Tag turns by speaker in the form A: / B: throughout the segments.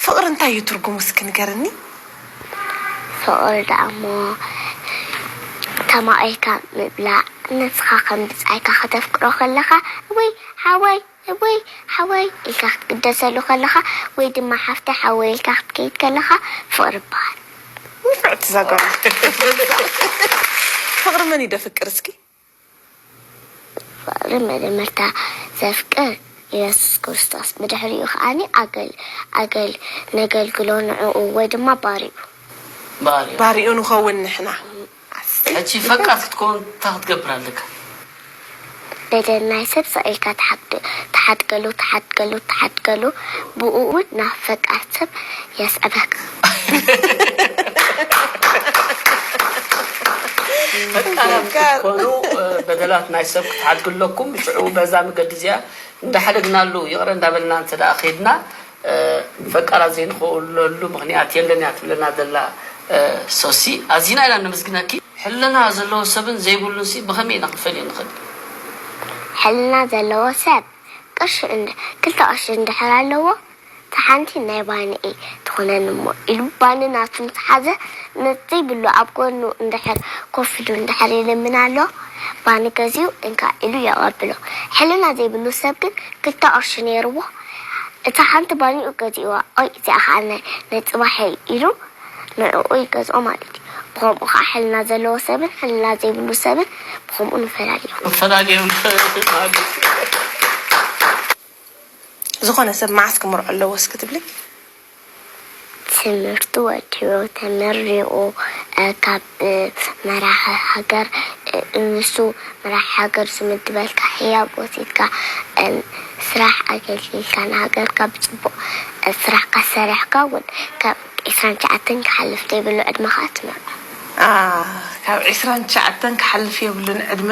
A: ፍቅሪ እንታይ እዩ ትርጉሙ እስኪ ንገርኒ።
B: ፍቅሪ ደኣሞ ተማቂርካ ምብላዕ ንስካ ከም ብጻይካ ከተፍቅሮ ከለካ እውይ ሓወይ እውይ ሓወይ ኢልካ ክትግደሰሉ ከለካ ወይ ድማ ሓፍተይ ሓወይ ኢልካ ክትከይድ ከለካ ፍቅሪ ይበሃል። ንፍዕቲ እዛ
A: ጋል ፍቅሪ መን እዩ ደፍቅር እስኪ።
B: ፍቕሪ መጀመርታ ዘፍቅር ኢየሱስ ክርስቶስ ብድሕሪኡ ከኣ ነገልግሎ ንዕኡ ወይ ድማ ባርይኡ። ባርይኡ ንኸውን ንሕና። ሕጂ ፈቃር ክትከውን
A: እንታይ
C: ክትገብር ኣለካ?
B: በደል ናይ ሰብ ስቕ ኢልካ ትሓድገሉ ትሓድገሉ ትሓድገሉ ብእኡ ናብ ፈቃር ሰብ የስዕበካ።
C: ፈጣናት ክትኮኑ በደላት ናይ ሰብ ክትሓድጉ ኣለኩም ሽዑ በዛ መገዲ እዚኣ እንዳሓደግናሉ ይቕረ እንዳበልና እንተ ከድና ፈቃራት ዘይንኸውለሉ ምክንያት የለን እያ ትብለና ዘላ ሶሲ ኣዚና ኢና ነመስግነኪ ሕልና ዘለዎ ሰብን ዘይብሉን ሲ ብኸመይ ኢና ክንፈልዮ ንኽእል
B: ሕልና ዘለዎ ሰብ ቅርሺ ክልተ ቅርሺ እንድሕር ኣለዎ እታ ሓንቲ ናይ ባኒኢ ትኹነኒ እሞ ኢሉ ባኒ ናቱ ምስ ሓዘ ነዘይብሉ ኣብ ጎኑ እንድሕር ኮፍ ኢሉ እንድሕር ይልምን ኣሎ ባኒ ገዚኡ እንካ ኢሉ የቐብሎ ሕልና ዘይብሉ ሰብ ግን ክልተ ቅርሺ ነይርዎ እታ ሓንቲ ባኒኡ ገዚእዋ ኦይ እዚኣ ኸኣ ናይ ናይ ጽባሐይ ኢሉ ንዕኡ ይገዝኦ ማለት እዩ ብኸምኡ ኸኣ ሕልና ዘለዎ ሰብን ሕልና ዘይብሉ ሰብን ብኸምኡ ንፈላልዮም። ንፈላልዮም ንፈላልዮም።
A: ዝኾነ ሰብ መዓስ ክምርዖ ኣለዎ እስኪ ትብሊ? ትምህርቱ
B: ወዲኡ ተመሪቁ ካብ መራሒ ሃገር ንሱ መራሒ ሃገር ዝምድበልካ ህያብ ወሲድካ ስራሕ ኣገልጊልካ ንሃገርካ ብፅቡቅ ስራሕካ ሰሪሕካ እውን ካብ ዕስራን ትሽዓተን ክሓልፍ ዘይብሉ ዕድመ ከዓ ትምርዖ።
A: ካብ ዕስራን ትሽዓተን ክሓልፍ የብሉን ዕድመ።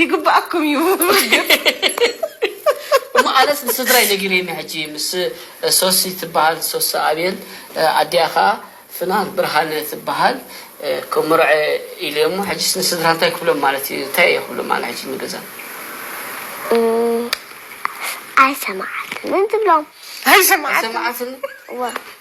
A: ይግባኣኩም እዩ
C: እሞ ኣነስ ንስድራይ ነጊረዮም እየ ሕጂ ምስ ሶሲ ትበሃል ሶሲ ኣብየል ኣዲኣ ከኣ ፍናን ብርሃነ ትበሃል ክምርዐ ኢለ እሞ ሕጂስ ንስድራ እንታይ ክብሎም ማለት እዩ እንታይ እየ ክብሎም ኣነ ሕጂ ንገዛ ኣይሰማዓትንን
B: ትብሎም ኣይሰማዓትን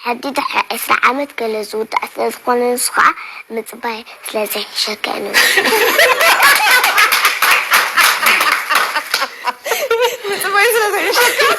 B: ሕጊ ድሕሪ ዕስራ ዓመት ገለ ዝውዳእ ስለ ዝኾነ ንሱ ከኣ ምጽባይ ስለ ዘይሕሸከን
A: ምጽባይ ስለ ዘይሕሸከን።